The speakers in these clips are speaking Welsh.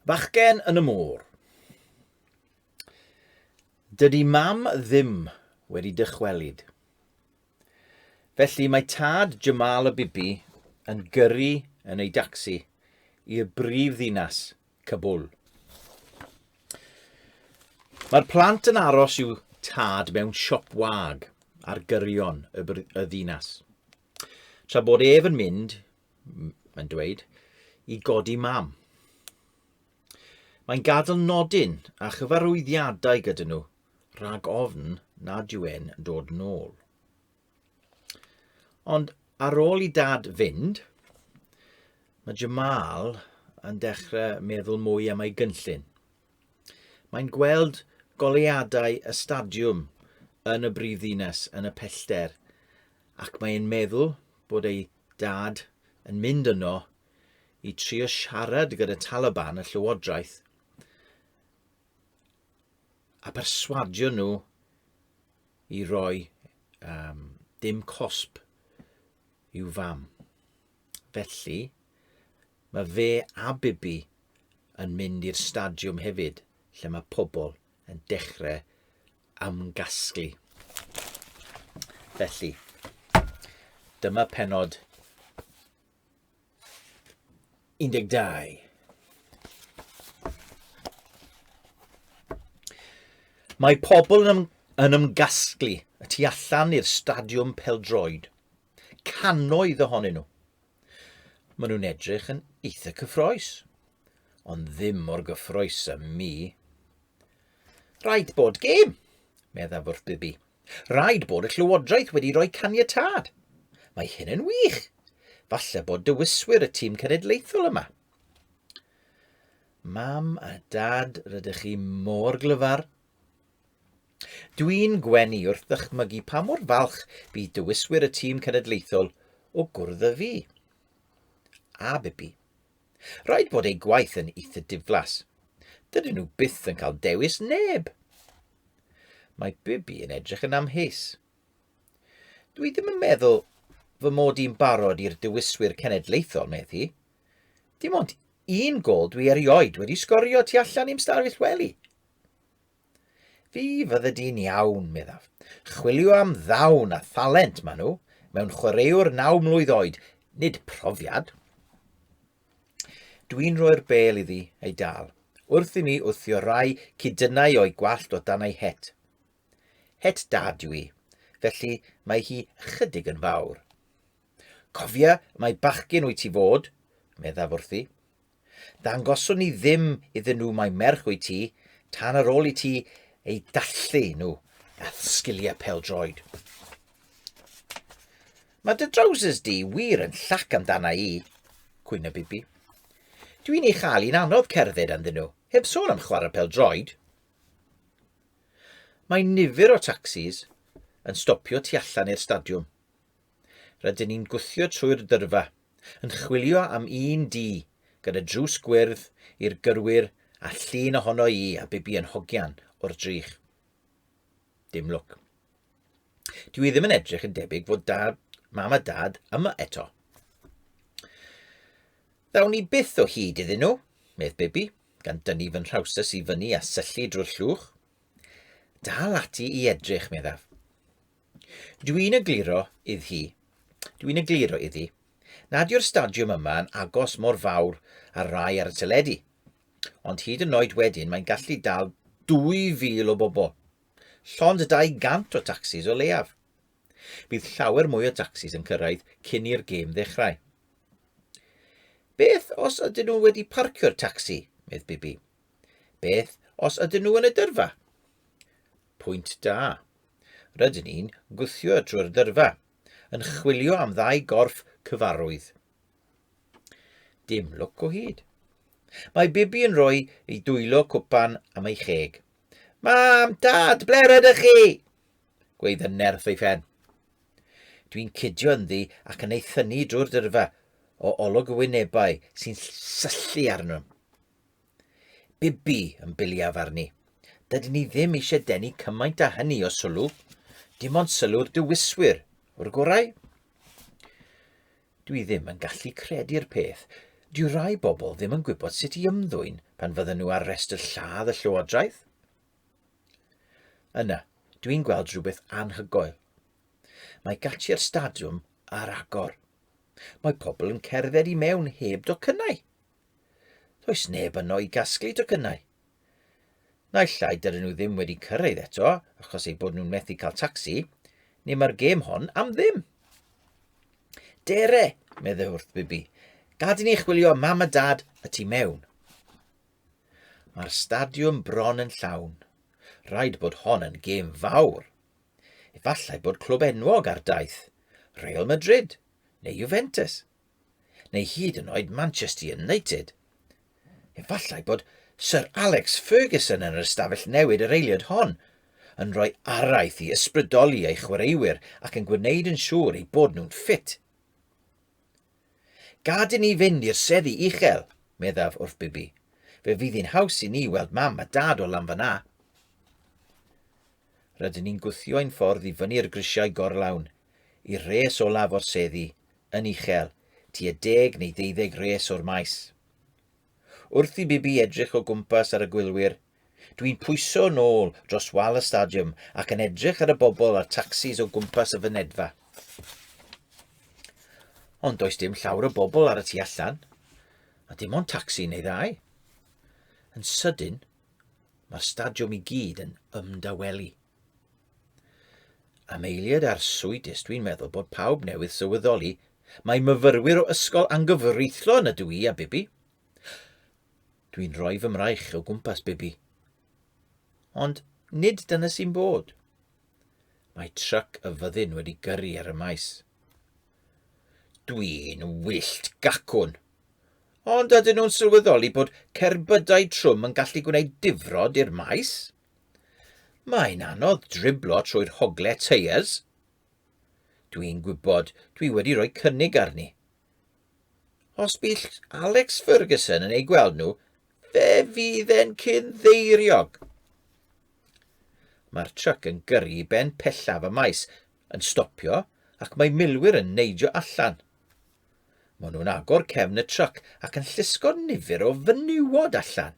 Bachgen yn y môr. Dydy mam ddim wedi dychwelyd. Felly mae tad Jamal y Bibi yn gyrru yn ei dacsi i'r brif ddinas Kabul. Mae'r plant yn aros i'w tad mewn siop wag ar gyrion y, y ddinas. Tra bod ef yn mynd, mae'n dweud, i godi mam. Mae'n gadl nodyn a chyfarwyddiadau gyda nhw, rhag ofn nad yw e'n dod nôl. Ond ar ôl i dad fynd, mae Jamal yn dechrau meddwl mwy am ei gynllun. Mae'n gweld goleuadau y stadiwm yn y brif ddinas yn y pellter ac mae'n meddwl bod ei dad yn mynd yno i trio siarad gyda Taliban y llywodraeth a perswadio nhw i roi um, dim cosb i'w fam. Felly, mae fe a Bibi yn mynd i'r stadiwm hefyd, lle mae pobl yn dechrau ymgasglu. Felly, dyma penod 12. Mae pobl yn, yn ymgasglu y tu allan i'r stadiwm peldroed. Canoedd ohonyn nhw. Maen nhw'n edrych yn eitha cyffroes, ond ddim mor gyffroes â mi. Rhaid bod gêm, meddaf wrth Bibi. Rhaid bod y Llywodraeth wedi rhoi caniatâd. Mae hyn yn wych. Falle bod dywiswyr y tîm cenedlaethol yma. Mam a dad, rydych chi mor glyfar. Dwi'n gwenu wrth ddychmygu pa mor falch bydd dywiswyr y tîm cenedlaethol o gwrdd â fi. A Bibi. Rhaid bod eu gwaith yn eitha diflas. Dydyn nhw byth yn cael dewis neb. Mae Bibi yn edrych yn amheus. Dwi ddim yn meddwl fy mod i'n barod i'r dewiswyr cenedlaethol, meddi. Dim ond un gol dwi erioed wedi sgorio tu allan i'm stafell wely. Fi fydde di'n iawn, meddaf. Chwilio am ddawn a thalent maen nhw, mewn chwaraewr naw mlwydd oed, nid profiad. Dwi'n rhoi'r bel iddi ei dal, wrth i mi wthio rai cydynnau o'i gwallt o dan ei het. Het dad yw i, felly mae hi chydig yn fawr. Cofia, mae bachgyn wyt ti fod, meddaf wrthi. Dangoswn i ddim iddyn nhw mai merch wyt ti tan ar ôl i ti eu dathlu nhw a sgiliau peldroed. Mae dy drowsus di wir yn llac amdana i, cwyno Bibi. Dwi'n ei chael i'n anodd cerdded anddyn nhw, heb sôn am chwarae peldroed. Mae nifer o tacsis yn stopio tu allan i'r stadiwm. Rydyn ni'n gwthio trwy'r dyrfa, yn chwilio am un du gyda drws gwyrdd i'r gyrwyr a llun ohono i a Bibi yn hogian o'r drych. Dim lwc. Dwi ddim yn edrych yn debyg fod dad, mam a dad yma eto. Ddawn ni byth o hyd iddyn nhw, medd Bibi, gan dynnu fy nhrawsus i fyny a syllu drwy'r llwch. Dal ati i edrych, meddaf. Dwi'n egluro iddi hi, dwi'n egluro iddi, nad yw'r stadiwm yma yn agos mor fawr â'r rai ar y teledu, ond hyd yn oed wedyn mae'n gallu dal 2,000 o bobl, llond 200 o tacsis o leiaf. Bydd llawer mwy o dacsis yn cyrraedd cyn i'r gêm ddechrau. Beth os ydyn nhw wedi parcio'r tacsi, medd Bibi? Beth os ydyn nhw yn y dyrfa? Pwynt da. Rydyn ni'n gwthio drwy'r dyrfa, yn chwilio am ddau gorff cyfarwydd. Dim lwc o hyd. Mae Bibi yn rhoi ei dwylo cwpan am ei cheg. Mam, dad, ble rydych chi? Gweud yn nerth ei phen. Dwi'n cydio ynddi ac yn ei thynu drwy'r dyrfa o olwg y wynebau sy'n syllu arno. Bibi, yn biliaf arni. Dydyn ni ddim eisiau denu cymaint â hynny o sylw. Dim ond sylw'r dywiswyr, o'r gorau. Dwi ddim yn gallu credu'r peth. Dwi rai bobl ddim yn gwybod sut i ymddwyn pan fydden nhw ar restr lladd y llywodraeth. Yna, dwi'n gweld rhywbeth anhygoel. Mae gati'r stadiwm ar agor. Mae pobl yn cerdded i mewn heb docynnau. Does neb yno i gasglu tocynnau. Naill ai dydyn nhw ddim wedi cyrraedd eto achos eu bod nhw'n methu cael tacsi, neu mae'r gêm hon am ddim. Dere, meddai wrth Bibi, gad i ni chwilio am mam a dad y tu mewn. Mae'r stadiwm bron yn llawn. Rhaid bod hon yn gêm fawr. Efallai bod clwb enwog ar daith, Real Madrid neu Juventus. neu hyd yn oed Manchester United. Efallai bod Sir Alex Ferguson yn yr ystafell newid yr eiliad hon, yn rhoi araith i ysbrydoli ei chwaraewyr ac yn gwneud yn siŵr eu bod nhw'n ffit. Gad i ni fynd i'r seddi uchel, meddaf wrth Bibi. Fe fydd hi'n haws i ni weld mam a dad o lan fanna. Rydyn ni'n gwthio ein ffordd i fyny'r grisiau gorlawn, i'r res olaf o'r seddi, yn uchel, tua deg neu ddeuddeg res o'r maes. Wrth i Bibi edrych o gwmpas ar y gwylwyr, dwi'n pwyso yn ôl dros wal y stadiwm ac yn edrych ar y bobl a'r tacsis o gwmpas y fynedfa. Ond does dim llawr o bobl ar y tu allan, a dim ond tacsi neu ddau. Yn sydyn, mae'r stadiwm i gyd yn ymdawelu. Am eiliad arswydus, dwi'n meddwl bod pawb newydd sylweddoli mae myfyrwyr o ysgol anghyfreithlon ydw i a Bibi. Dwi'n rhoi fy mraich o gwmpas Bibi. Ond nid dyna sy'n bod. Mae truck y fyddin wedi gyrru ar y maes. Dwi'n wyllt gacwn. Ond ydyn nhw'n sylweddoli bod cerbydau trwm yn gallu gwneud difrod i'r maes? Mae'n anodd driblo trwy'r hogle teiers. Dwi'n gwybod dwi wedi rhoi cynnig arni. Os bydd Alex Ferguson yn ei gweld nhw, fe fydd e'n cyn ddeiriog. Mae'r truc yn gyrru i ben pellaf y maes, yn stopio ac mae milwyr yn neidio allan. Mae nhw'n agor cefn y truc ac yn llusgo nifer o fenywod allan.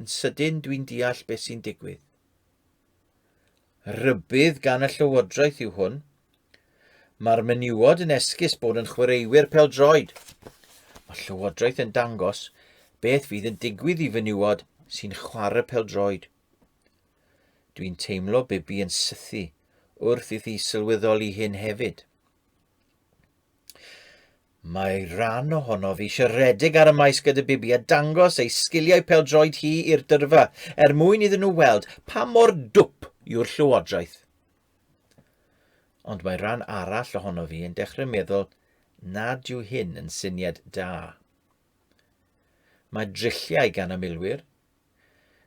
Yn sydyn dwi'n deall beth sy'n digwydd. Rybydd gan y llywodraeth yw hwn. Mae'r menywod yn esgus bod yn chwaraewyr peldroed. Mae llywodraeth yn dangos beth fydd yn digwydd i fenywod sy'n chwarae peldroed. Dwi'n teimlo Bibi yn sythu wrth iddi sylweddoli hyn hefyd. Mae rhan ohonof eisiau rhedeg ar y maes gyda Bibi a dangos ei sgiliau pêl-droed hi i'r dyrfa, er mwyn iddyn nhw weld pa mor dwp yw'r llywodraeth. Ond mae rhan arall ohonof i yn dechrau meddwl nad yw hyn yn syniad da. Mae drilliau gan y milwyr.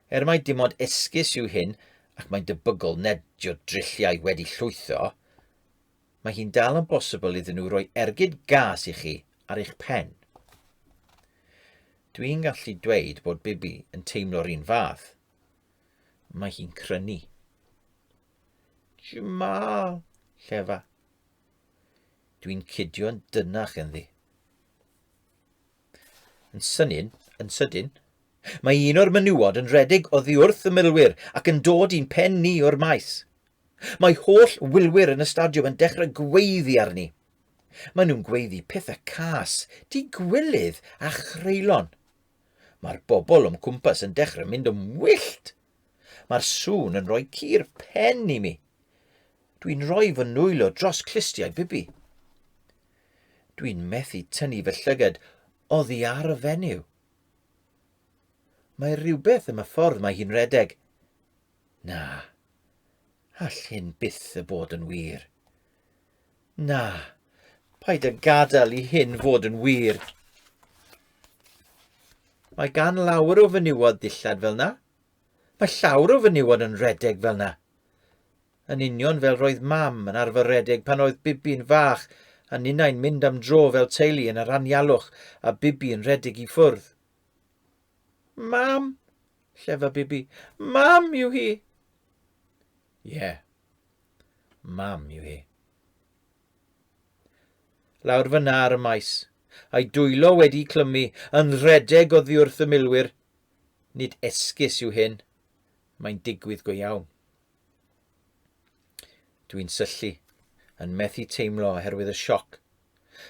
Er mae dim ond esgus yw hyn, ac mae'n debygol nad yw drilliau wedi llwytho, mae hi'n dal yn bosibl iddyn nhw roi ergyd gas i chi ar eich pen. Dwi'n gallu dweud bod Bibi yn teimlo'r un fath. Mae hi'n crynu. Jamal, llefa. Dwi'n cydio'n dynach yn ddi. Yn sydyn, yn sydyn, mae un o'r menywod yn rhedeg oddi wrth y milwyr ac yn dod i'n pen ni o'r maes. Mae holl wylwyr yn y stadiwm yn dechrau gweiddi arni. Maen nhw'n gweiddi pethau cas, digwilydd a chreulon. Mae'r bobl o'm cwmpas yn dechrau mynd yn wyllt. Mae'r sŵn yn rhoi cur pen i mi. Dwi'n rhoi fy nwylo dros clustiau Bibi. Dwi'n methu tynnu fy llyged oddi ar y fenyw. Mae rhywbeth am y ffordd mae hi'n redeg. Na, all hyn byth y bod yn wir. Na, paid â gadael i hyn fod yn wir. Mae gan lawr o fenywod ddillad fel na. Mae llawr o fenywod yn redeg fel na. yn union fel roedd Mam yn arfer redeg pan oedd Bibi'n fach a ninnau'n mynd am dro fel teulu yn yr anialwch a Bibi yn redeg i ffwrdd. Mam! llefa Bibi. Mam yw hi! Ie. Yeah. Mam yw hi. Lawr fyna ar y maes, a'i dwylo wedi clymu yn rhedeg oddi wrth y milwyr. Nid esgus yw hyn. Mae'n digwydd go iawn. Dwi'n syllu, yn methu teimlo oherwydd y sioc,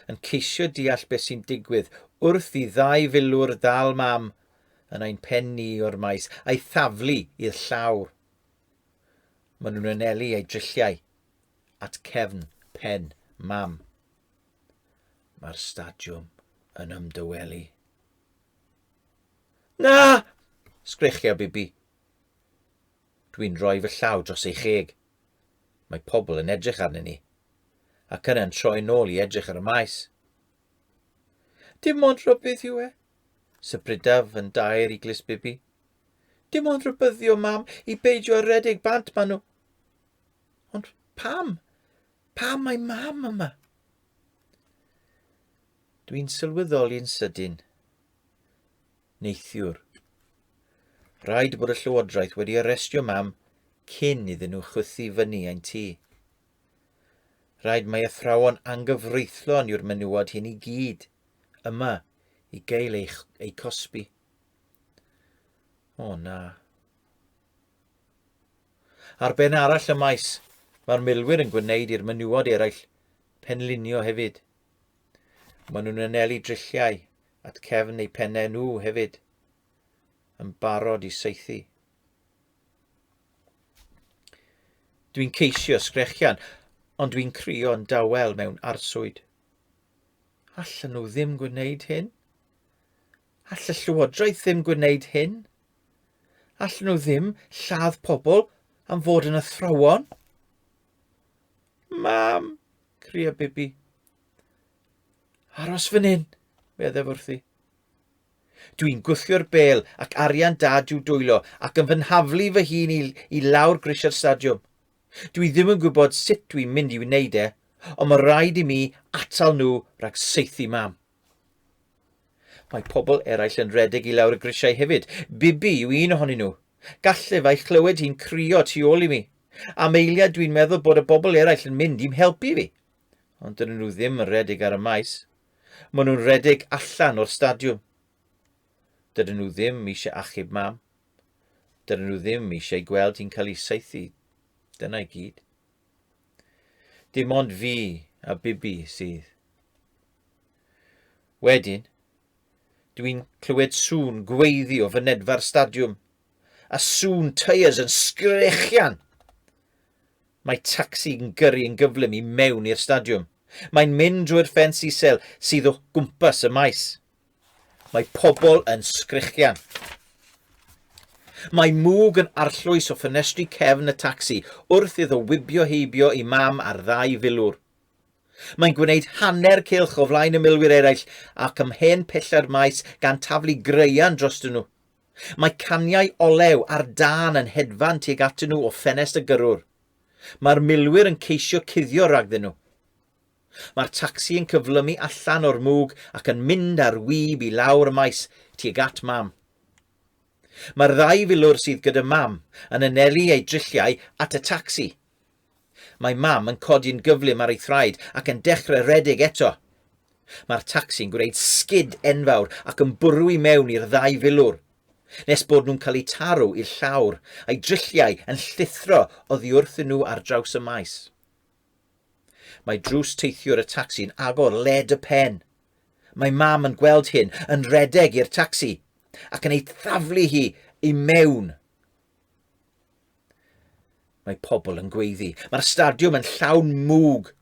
yn ceisio deall beth sy'n digwydd wrth i ddau filwr ddal mam yn ein pen ni o'r maes a'i thaflu i'r llawr. Maen nhw'n anelu eu drilliau at cefn pen mam. Mae'r stadiwm yn ymdywelu. Na! sgrechia Bibi. Dwi'n rhoi fy llaw dros ei cheg. Mae pobl yn edrych arnyn ni. Ac yna'n troi nôl i edrych ar y maes. Dim ond rhybydd yw e. Sybrydaf yn dair i glis bibi. Dim ond rhybyddio mam i beidio redeg bant maen nhw. Ond pam? Pam mae mam yma? Dwi'n sylweddoli'n sydyn. neithiwr. Rhaid bod y llywodraeth wedi arestio mam cyn iddyn nhw chwythu fyny ein tŷ. Rhaid mae athrawon angyfreithlon yw'r menywod hyn i gyd yma i gael ei, ei cosbi. O na. Ar ben arall y maes, mae'r milwyr yn gwneud i'r menywod eraill penlinio hefyd. Maen nhw'n anelu drilliau, at cefn eu pennau nhw hefyd, yn barod i saethu. Dwi'n ceisio sgrechian, ond dwi'n crio'n dawel mewn arswyd. Allan nhw ddim gwneud hyn? All y llywodraeth ddim gwneud hyn? All nhw ddim lladd pobl am fod yn athrawon? Mam, cria Bibi. Aros fan hyn, meddaf wrthi. Dwi'n gwthio'r bel ac arian dad i'w dwylo ac yn fy nhaflu fy hun i, i lawr grisiau'r stadiwm. Dwi ddim yn gwybod sut dwi'n mynd i wneud e, ond mae rhaid i mi atal nhw rhag seithi mam. Mae pobl eraill yn redeg i lawr y grisiau hefyd. Bibi yw un ohonyn nhw. Gallef a'i chlywed hi'n crio tu ôl i mi. Am eiliad dwi'n meddwl bod y bobl eraill yn mynd i'm helpu fi. ond dyn nhw ddim yn redig ar y maes. Maen nhw'n redig allan o'r stadiwm. Dydyn nhw ddim eisiau achub mam. Dydyn nhw ddim eisiau gweld hi'n cael ei saethu. Dyna i gyd. Dim ond fi a Bibi sydd. Wedyn, dwi'n clywed sŵn gweiddi o fynedfa'r stadiwm. a sŵn tyres yn sgrechian. Mae tacsi yn gyrru yn gyflym i mewn i'r stadiwm. Mae'n mynd drwy'r ffens isel sydd o gwmpas y maes. Mae pobl yn sgrechian. Mae mwg yn arllwys o ffenestri cefn y tacsi wrth iddo wibio heibio i mam ar ddau filwr. Mae'n gwneud hanner cylch o flaen y milwyr eraill ac ymhen pella'r maes gan taflu graean drostyn nhw. Mae caniau olew ar dân yn hedfan tuag atyn nhw o ffenest y gyrrwr. Mae'r milwyr yn ceisio cuddio ragddyn nhw. Mae'r tacsi yn cyflymu allan o'r mwg ac yn mynd ar wib i lawr y maes tuag at Mam. Mae'r ddau filwr sydd gyda Mam yn anelu eu drilliau at y tacsi. Mae Mam yn codi'n gyflym ar ei thraed ac yn dechrau rhedeg eto. Mae'r tacsi'n gwneud sgid enfawr ac yn bwrw i mewn i'r ddau filwr, nes bod nhw'n cael eu taro i'r llawr, a'i drylliau yn llithro oddi wrthyn nhw ar draws y maes. Mae drws teithiwr y tacsi'n agor led y pen. Mae Mam yn gweld hyn, yn rhedeg i'r tacsi, ac yn ei thaflu hi i mewn. Mae pobl yn gweiddi. Mae'r stadiwm yn llawn mwg.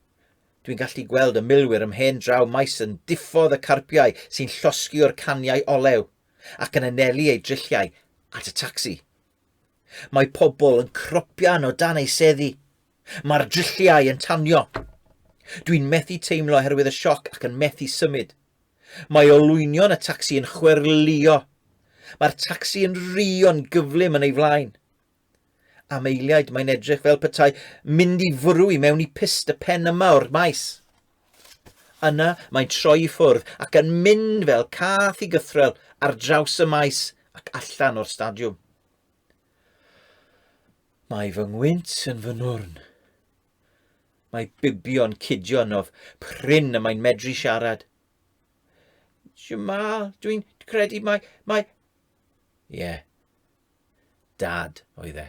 Dwi'n gallu gweld y milwyr ym mhen draw maes yn diffodd y carpiau sy'n llosgi o'r caniau olew ac yn anelu eu drilliau at y tacsi. Mae pobl yn cropian o dan ei seddi. Mae'r drilliau yn tanio. Dwi'n methu teimlo oherwydd y sioc ac yn methu symud. Mae olwynion y tacsi yn chwerwlio. Mae'r tacsi yn rio'n gyflym yn ei flaen. Am eiliaid mae'n edrych fel petai mynd i fwrw i mewn i pist y pen yma o'r maes. Yna mae'n troi i ffwrdd ac yn mynd fel cath i gythrel ar draws y maes ac allan o'r stadiwm. Mae fy ngwynt yn fy nwrn. Mae Bibio'n cudio'n of prin y mae'n medru siarad. Jamal, dwi'n credu mae... mae... Ie. Yeah. Dad oedd e.